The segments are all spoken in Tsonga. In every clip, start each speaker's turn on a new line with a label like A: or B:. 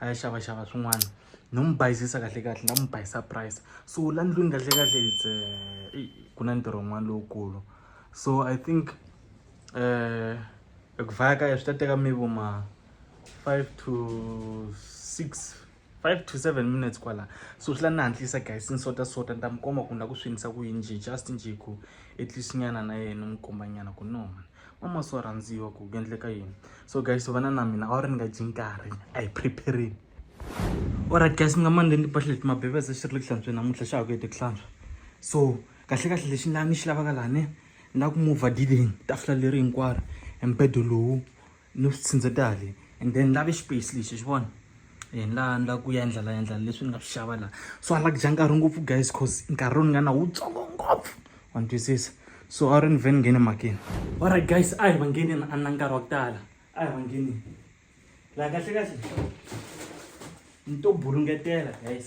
A: a ya xavaxava swin'wana no n'wi bayizisa kahle kahle na n'wi bayisa price so la ndlwini kahle kahle it's eh, ku na ntirho wun'wana lowukulu so i think um ku vhaya ka ya swi ta teka maybe ma five to six five to seven minutes kwala so swi la ni hantlisa guys ni sota sota ni ta mi komba ku ni la ku swinisa ku yini nje just nje ku at least nyana na yena ni mi komba nyana ku noma mama so rhandziwa ku ku endleka yini so guys vana na mina a ri ni nga dyi nkarhi a hi preparing alright guys ni nga mani ni pahle leti mabebese xi ri le ku hlantsweni namuntlha xa ha ku hete ku hlantswa so kahle kahle lexi ni xi lavaka lani ni lava ku mover diding tafula leri hinkwaro embedo lowu ni swi tshindzeta le and then ni lave space lexi xi vona hi laha ni lava ku endla la endla leswi ni nga swi xava laha so a lava ku dya nkarhi ngopfu guys cause nkarhi lowu ni nga na wutsongo ngopfu wa ni twisisa so a ri ni vhe ni nghene makini alright guys a hi va ngheneni a na nkarhi wa ku tala a hi va ngheneni laha kahle kahle ni to burungetela guys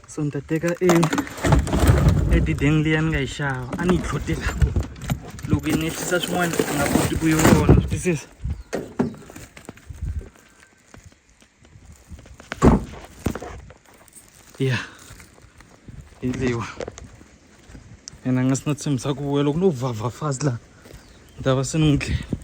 A: so nta teka e e dideng liya ni nga yi xava a ni yi tlhotela loko yi nehlisa swin'wana a nga koti ku yi vona swi twisisa ya hi liwa and a nga si na tshembisa ku vuya loko no vhavha fast laha ni ta va se ni n'wi dlela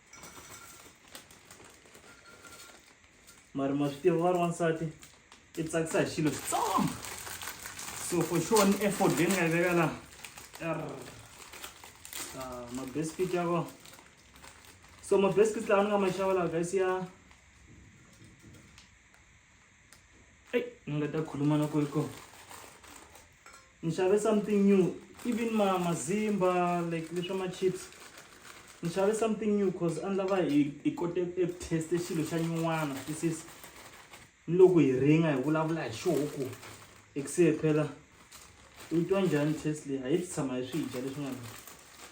A: mara ma swi tiva va ri wansati i tsakisa hi xilo xitsongo so for sure ni effort leyi ni nga yi veka laha ah, mabescuit ya kona so mabescuit lawa ni nga ma xava laha guys ya eyi ni nga ta khuluma na kwe kona ni xave something new even ma mazimba like leswa ma-chips ni xave something new cause a ni lava hi hi kote eku teste xilo xa nyin'wana tisis ni loko hi ringa hi vulavula hi xoku hi ku se phela u yi twa njhani test leyi a hi swi tshama hi swi dya leswin'wana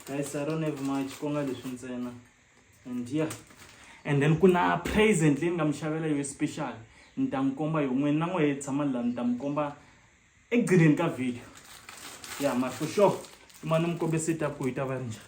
A: guys i don't have much ku nga leswi ntsena and yeah and then ku na present leyi ni nga mi xavela yo special ni ta n'wi komba yo n'wini na n'we hi tshama la ni ta mi komba ekugcineni ka video ya ma for sure ma ni mi kombise ta ku yi ta va ri njhani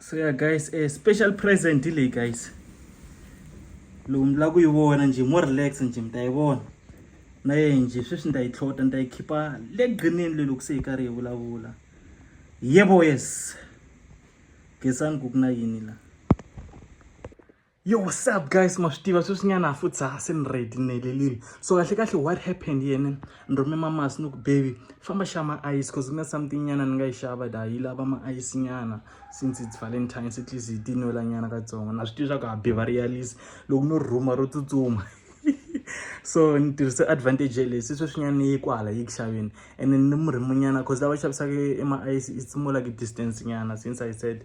A: so ya guys a eh, special present leyi guys lowu mi lava ku yi vona njhe mo relax njhe mi ta yi vona na ye njhe sweswi ni ta yi tlhota ni ta yi khipha le grinini le loko se yi karhi yi vulavula yebo yes gesani ku ku na yini la yo what's up guys ma swi tiva sweswinyana futhi ha se ni ready ni helelile so kahle kahle what happened yena ni rhume mamasi ni ku baby famba xa ma-ice cause ku na something nyana ni nga yi xava da yi lava ma-ice nyana since it's valentine se tleast yi tinwela nyana katsongo na swi tiva swa ku ha be va realise loko no rhuma ro tsutsuma so ni tirhise advantage yeleyi se sweswinyana ni yi kwala yi ku xaveni and ni murhimunyana cause lava xavisaka ema-ice it's more like distance nyana since i said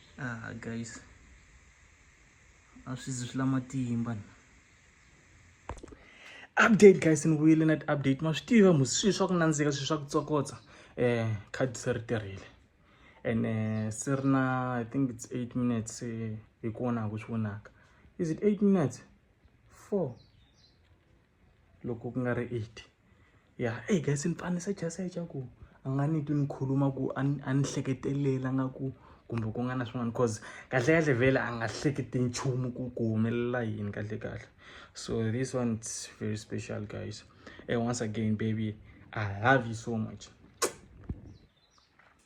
A: ah guys a swi zi swi la matimba ni update guys ni vuyile na ti-update ma swi tiva mu swilo swa ku nandzika swilo swa ku tsokotsa um khadi se ri tirhile and eh, se ri na i think it's eight minutes eh, hi ku vonaka ku swi vonaka is it eight minutes four loko ku nga ri eight ya eyi guys ni pfanisa chance xa ku a nga ni twi ni khuluma ku a ni a ni hleketelela nga ku kumbe ku nga na swin'wana cause kahle kahle vhele a nga hleketi nchumu ku ku humelela yini kahle kahle so this one it's very special guys and once again baby i love you so much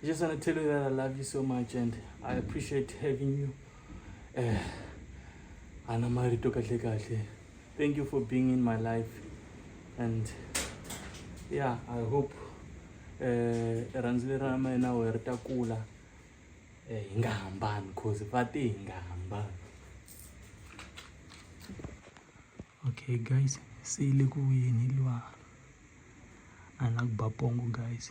A: I just want to tell you that I love you so much and I appreciate having you. Eh, Ana Marito Kahle Kahle. Thank you for being in my life. And yeah, I hope eh, rhandzu leri ra mina we ri ta kula eh, hi nga hambani cause va te hi nga hambani okay guys se yi le ku vuyeni liwa a ni la ku ba pongo guys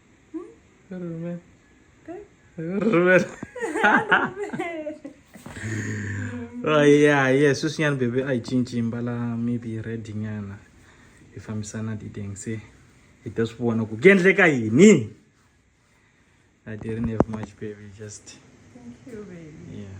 A: Rumen. Rumen. oh yeah yeah sweswinyana bebe a yi cinci mbala maybe red nyana yi fambisana diteng se hi ta swi vona ku ku endleka yini i didn't have much baby just Thank you,
B: baby. yeah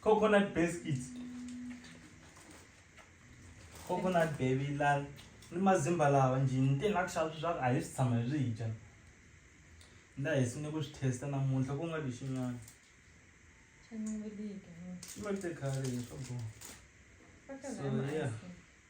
A: coconut biscuits coconut baby la ni mazimba lawa njhe ni te ni la ku xava swi swa ku a hi swi tshama hi swi dya ni la hi swi ni ku swi testa namuntlha ku nga vi xin'wana
B: xi ma te khale
A: hi swa boha so yeah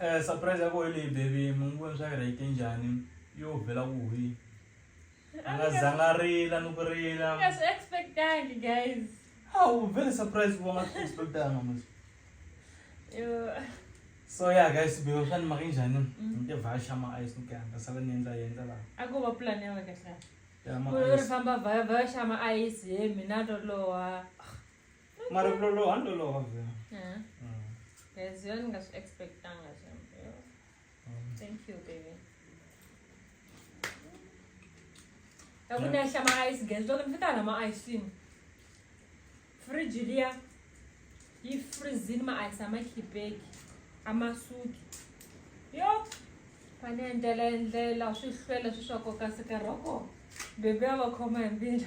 A: Eh, surprise ya koho leyi baby mungu swa yena yi te njhani yo vhela ku hwi a nga zanga rila ni ku rila nga swi expectangi
B: guys hawu vele
A: surprise ku va nga swi expectanga mos so ya guys beo swa ni maka njhani mm. ni te vhaxa ma ice ni kanga sala ni endla yendla laha a ko va plan ya wena
B: kahle ri
A: famba
B: vhaxa
A: ma
B: ice he mina toloha Mara
A: ku loloha ni
B: loloha vhela. Yeah. Mm. There's yo ni nga swi expectanga xambe. Mm. Thank you baby. Hakuna xa ma ice guys, loko ni fika na ma ice cream. Fridge liya yi freezini ma ice ama khipeki, ama suki. Yo, fane endlela endlela swi hlwela swi swa koka sikaroko. Bebe a va khoma hi mbila.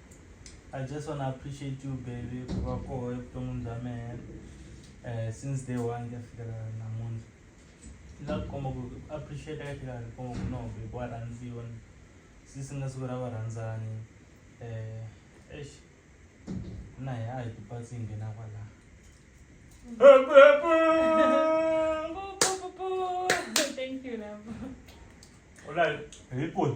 A: I just wanna appreciate you baby ku va koho evuton'wini bya mehe um since day one ku ya fikela namuntlha ni la ku komba ku ku appreciate-a ka tlhela ni komba ku no baby wa rhandziwa ni since ku nga siku ra varhandzani um eish na hina a hi ti patsi hi nghena kwala Thank you,
B: love. u la
A: hi hi kuni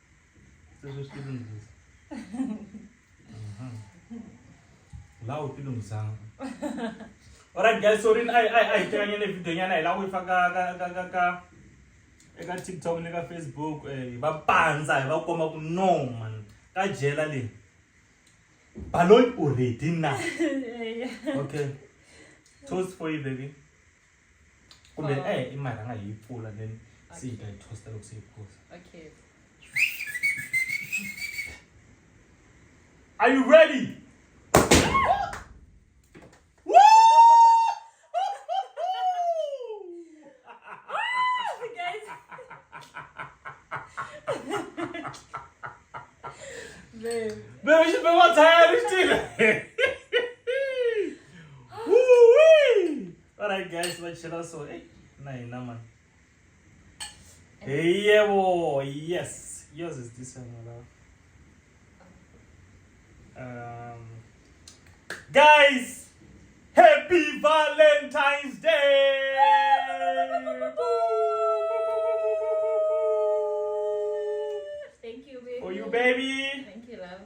A: sesositilungisa la u tilungisanga alright guys sorry a hi tekanye ne video nyana hi la ku yi faka ka ka ka ka eka tiktok ni ka facebook hi eh, va pandza hi va komba ku no man ka jela leyi baloyi u ready na okay toast for you baby kumbe oh. eh imali anga hi pfula then se yi ta yi tosta loko se yi phuza
B: okay
A: are you ready Babe. Babe, ich bin mal tired, ich stehe. alright guys va chela so hey, na hina mani hey yebo yes yours is this one love um guys happy valentine's day thank you baby
B: for you baby thank you
A: love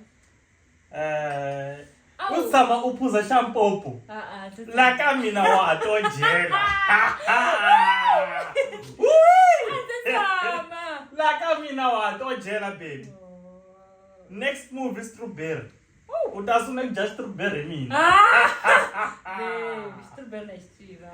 B: Eh,
A: Awu. u tshama u phuza xa mpopo Ah, ah, tse- la ka mina wa ha to dyela Woo! tse tshama. la ka mina wa ha to dyela baby next move i strawberry u ta sungula ku dya strawberry hi mina
B: Ah! Babe, strawberry na xitswirha.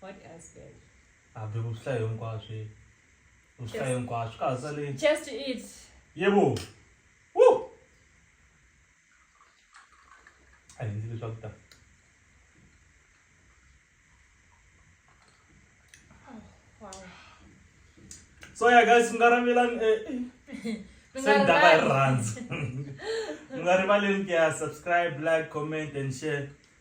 B: What else, babe? Abi ku swihlayo
A: hinkwaswo. Ku swihlayo hinkwaswo ka ha sale. Just eat.
B: Yebo.
A: Woo! A hi ndzi leswaku ta. Wow. So yeah guys, mi nga ravelani eh, eh. Mi nga se ni daka hi rivali. rirhandzu. Mi nga rivaleni ku ya subscribe, like, comment and share.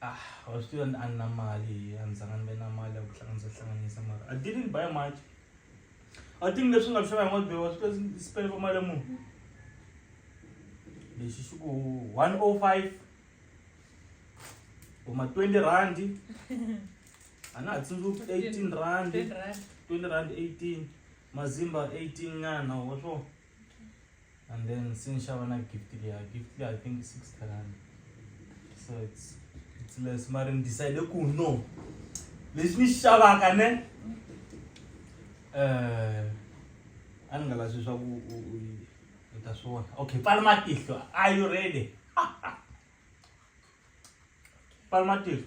A: Ah, I was still an anomaly. I'm Zangan anomaly. I was hlanganisa mara. I didn't buy much. I think leswi nga xava ngod was because spend for mali mu. Lexi xi ku 105 kuma 20 rand. Ana ha tsundzuki 18 rand. 20 rand 18 mazimba 18 nyana wa swona. okay. and then sinishava na gift leya gift leya i think six rand so it's, it's less mari ni decide ku no lexi ni xi xavaka ne um eh, a ni nga lavi swi swa ku u ta swi vona okay pfala matihlo are you ready pfala matihlo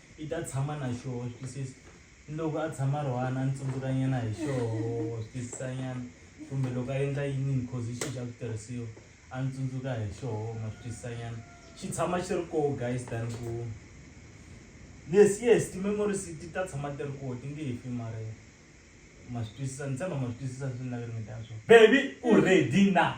A: I ta tshama na xoho swi twisisa ni loko a tshama a ri one a ni tsundzukanyana hi xoho swi twisisanyana kumbe loko a endla yinini cause hi xihi xa switirhisiwa a ni tsundzuka hi xoho ma swi twisisanyana xi tshama xi ri koho guys than ku yes yes ti-memories ti ta tshama ti ri koho ti nge he fi mara ma swi twisisa ni tshemba ma swi twisisa leswi ni lava ku ringeta swona baby u ready na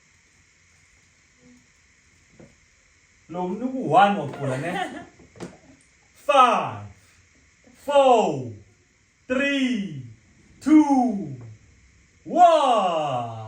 A: Lo mntu ku-one wagula ne. Five, four,
B: three, two, one.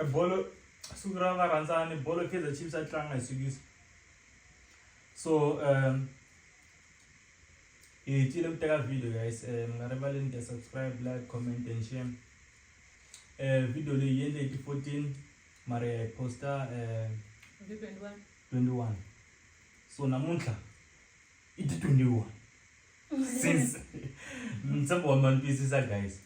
A: e bolo siku ra varhandzani bolo kaizer chiefs a tlanga hi siku so um hi hetile ku teka video guys eh, mi nga rivaleni ku subscribe like comment and share eh video leyi yi endle hi ti-fourteen mara ya hi posta eh, twenty-one so namuntlha i ti-twenty-one since mtsembo wa mi ni twisisa guys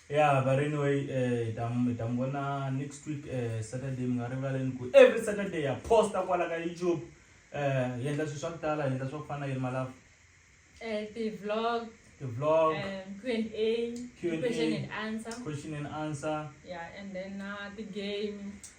A: ya but anyway eh ta mi ta mi vona next week eh saturday mi nga rivaleni ku every saturday ya posta kwala ka youtube eh hi endla swilo swa ku tala hi endla swa ku fana na yirima lava eh
B: ti-vlog ti-vlog eh, Q&A Q&A. question and answer question and answer yeah and then uh, ti-game